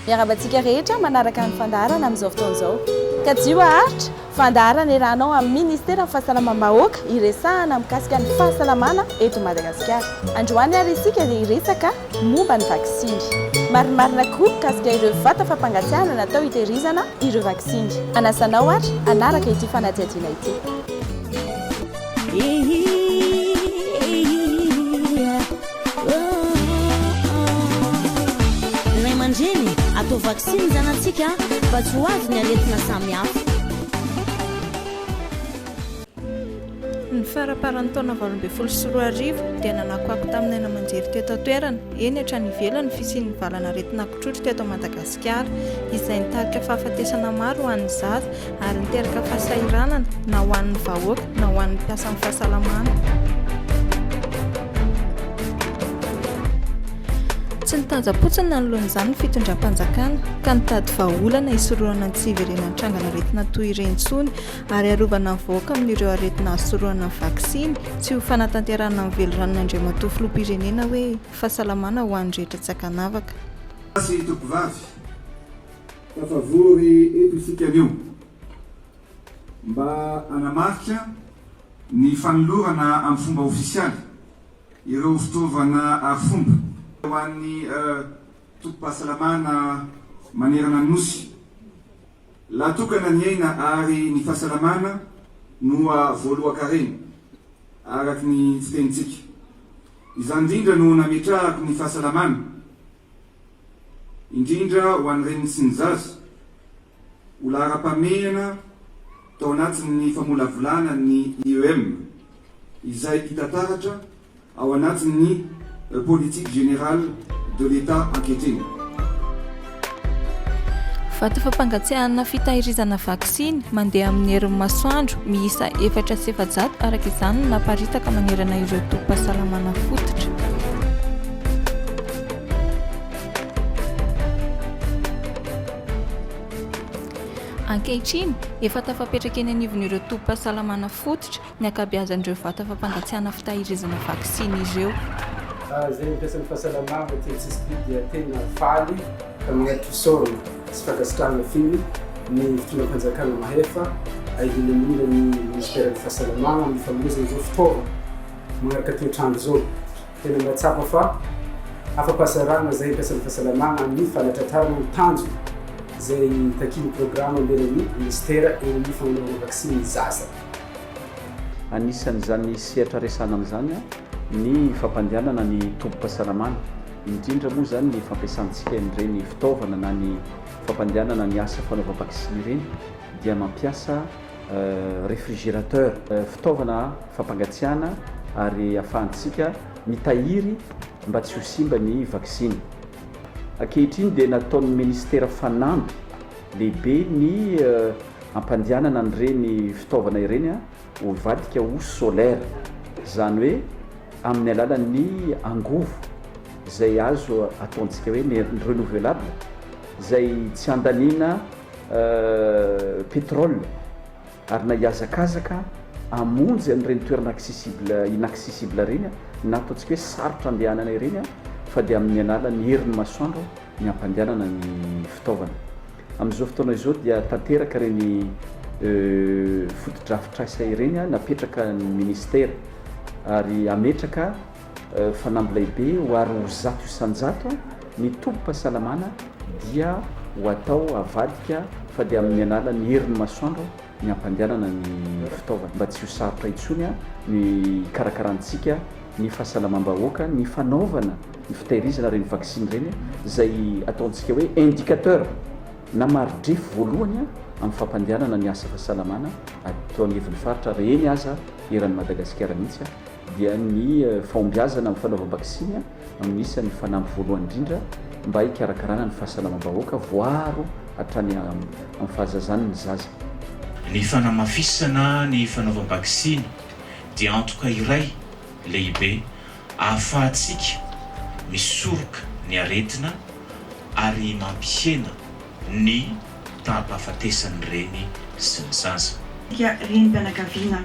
Miarahaba antsika rehetra manaraka ny fandaharana amin'izao fotoana izao. Kajio haharitra, fandaharana iarahanao amin'ny Ministeran'ny Fahasalamam-bahoaka iresahana mikasika ny fahasalamana eto Madagasikara. Androany ary isika dia hiresaka momba ny vaksiny. Marimarina koa mikasika ireo vata fampangatsiahana natao hitehirizana ireo vaksiny. Anasa anao ary hanaraka ity fanadihadiana ity. Ray aman-dreny, atao vaksiny ny zanatsika mba tsy ho avy ny aretina samihafa. Ny faramparan'ny taona valo ambin'ny folo sy roa arivo dia nanakoako tamin'ny aina aman-jery teto an-toerana, eny hatrany ivelany ny fisian'ny valan'aretina kotrotro teto Madagasikara, izay nitarika fahafatesana maro ho an'ny zaza ary niteraka fahasahiranana na ho an'ny vahoaka na ho an'ny mpiasan'ny fahasalamana. Tsy nitanjam-potsiny nanoloan'izany ny fitondram-panjakana ka nitady vahaolana hisorohana ny tsy hiverenan'ny trangan'aretina toy ireny intsony ary arovana ny vahoaka amin'ireo aretina azo sorohana ny vaksiny, tsy ho fanatanterahana ny veliranon'i Andriamatoa Filoham-pirenena hoe fahasalamana ho an'ny rehetra tsy ankanavaka. Gasy tovovavy, tafavory eto isika anio mba hanamarika ny fanolorana amin'ny fomba ofisialy ireo fitaovana arifomba ho an'ny tobim-pahasalamana manerana ny Nosy. La tokana ny aina ary ny fahasalamana noa voalohan-karena, araka ny fitenintsika. Izany indrindra no nametrahako ny fahasalamana, indrindra ho an'ny reniny sy ny zaza, ho laharam-pahamehana tao anatin'ny famolavolana ny IEM, izay hita taratra, ao anatin'ny politique générale de l'Etat ankehitriny. Vato fampangatsiahana fitahirizana vaksiny mandeha amin'ny herin'ny masoandro miisa efatra sy efajato araka izany no naparitaka manerana ireo tobim-pahasalamana fototra. Ankehitriny, efa tafapetraka eny anivon'ireo tobim-pahasalamana fototra ny ankabeazan'ireo vata fampangatsiahana fitahirizana vaksiny ireo. Raha izay mampiasa ny fahasalamana aty an-tsisim-pỳ dia tena faly ka manery fisaorana sy fankasitrahana feno ny fitondram-panjakana mahefa ary indrindra indrindra ny Minisiteran'ny Fahasalamana amin'ny fanomezana izao fitaovana manaraka toetr'andro izao. Tena mahatsapa fa afa-pahasahiranana izay ampiasan'ny fahasalamana amin'ny fanatratrarana ny tanjona izay takian'ny programa ambenan'ny Minisitera eo amin'ny fagnanaovana vaksiny ny zaza. Anisan'izany sehatra resahana amin'izany ny fampandehanana ny tobim-pahasalamana, indrindra moa izany ny fampiasantsika an'ireny fitaovana na ny fampandehanana ny asa fanaovam-baksiny ireny dia mampiasa refrigerateur, fitaovana fampangatsiahana ary ahafahantsika mitahiry mba tsy ho simba ny vaksiny. Ankehitriny dia nataon'ny Ministera fanamby. Lehibe ny hampandehanana an'ireny fitaovana ireny ho hivadika ho solaire, izany hoe amin'ny alalan'ny angovo izay azo ataontsika hoe ny renouvelable izay tsy handaniana pétrole. Ary na hihazakazaka hamonjy an'ireny toerana accessible, inaccessible ireny na ataontsika hoe sarotra andehanana ireny fa dia amin'ny alalan'ny herin'ny masoandro ny hampandehanana ny fitaovana. Amin'izao fotoana izao dia tanteraka ireny fotodrafitrasa ireny napetraka ny ministera ary hametraka Fanamby lehibe ho ary ho zato isan-jato ny tobim-pahasalamana dia ho atao avadika fa dia amin'ny alalan'ny herin'ny masoandro ny hampandehanana ny fitaovana mba tsy ho sarotra intsony ny hikarakarantsika ny fahasalamam-bahoaka ny fanaovana ny fitahirizana ireny vaksiny ireny izay ataontsika hoe indicateur na mari-drefy voalohany amin'ny fampandehanana ny asa fahasalamana ato anivon'ny faritra ary eny aza eran'i Madagasikara mihitsy dia ny fahombiazana amin'ny fanaovam-baksiny no isan'ny fanamby voalohany indrindra mba hikarakarana ny fahasalamam-bahoaka voaro hatrany amin'ny fahazazany ny zaza. Ny fanamafisana ny fanaovam-baksiny dia antoka iray lehibe ahafahantsika misoroka ny aretina ary mampihena ny taham-pahafatesan'ny reny sy ny zaza. Isika renim-pianakaviana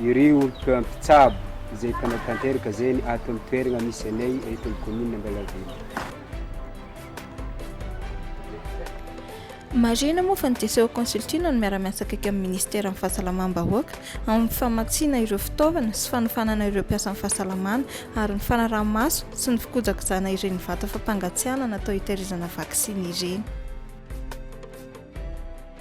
Iry olompa mpitsabo izay mpanao tanteraka zeny ato amin'ny toeragna misy anay eto amin'ny commune Ambalavelo. Marihina moa fa ny Diceho Consulting no miara-miasa akaiky amin'ny Minisiteran'ny Fahasalamam-bahoaka amin'ny famatsiana ireo fitaovana sy fanofanana ireo mpiasan'ny fahasalamana ary ny fanaraha-maso sy ny fikojakojana ireny vata fampangatsiahana natao hitahirizana vaksiny ireny.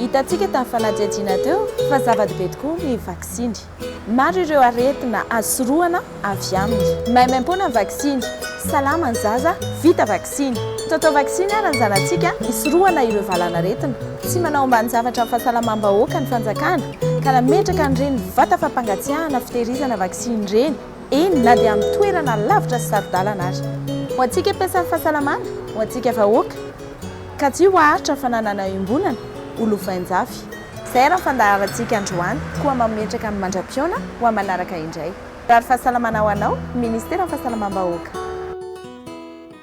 Hitantsika tamin'ny fanadihadiana teo fa zava-dehibe tokoa ny vaksiny. Maro ireo aretina azo sorohana avy aminy. Maimaimpoana ny vaksiny, salama ny zaza vita vaksiny. Taotao vaksiny ary ny zanatsika hisorohana ireo valanaretina. Tsy manao ambanin-javatra ny fahasalamam-bahoaka ny fanjakana ka nametraka an'ireny vata fampangatsiahana fitehirizana vaksiny ireny. eny na dia amin'ny toerana lavitra sy saro-dalana aza. Ho antsika mpiasan'ny fahasalamana, ho antsika vahoaka, ka tsy ho haharitra fananana iombonana ho lovain-jafy. Izay ary ny fandaharantsika androany, koa mametraka ny mandra-pihaona ho amin'ny manaraka indray. Mirary fahasalamana ho anao, ny Ministeran'ny Fahasalamam-bahoaka.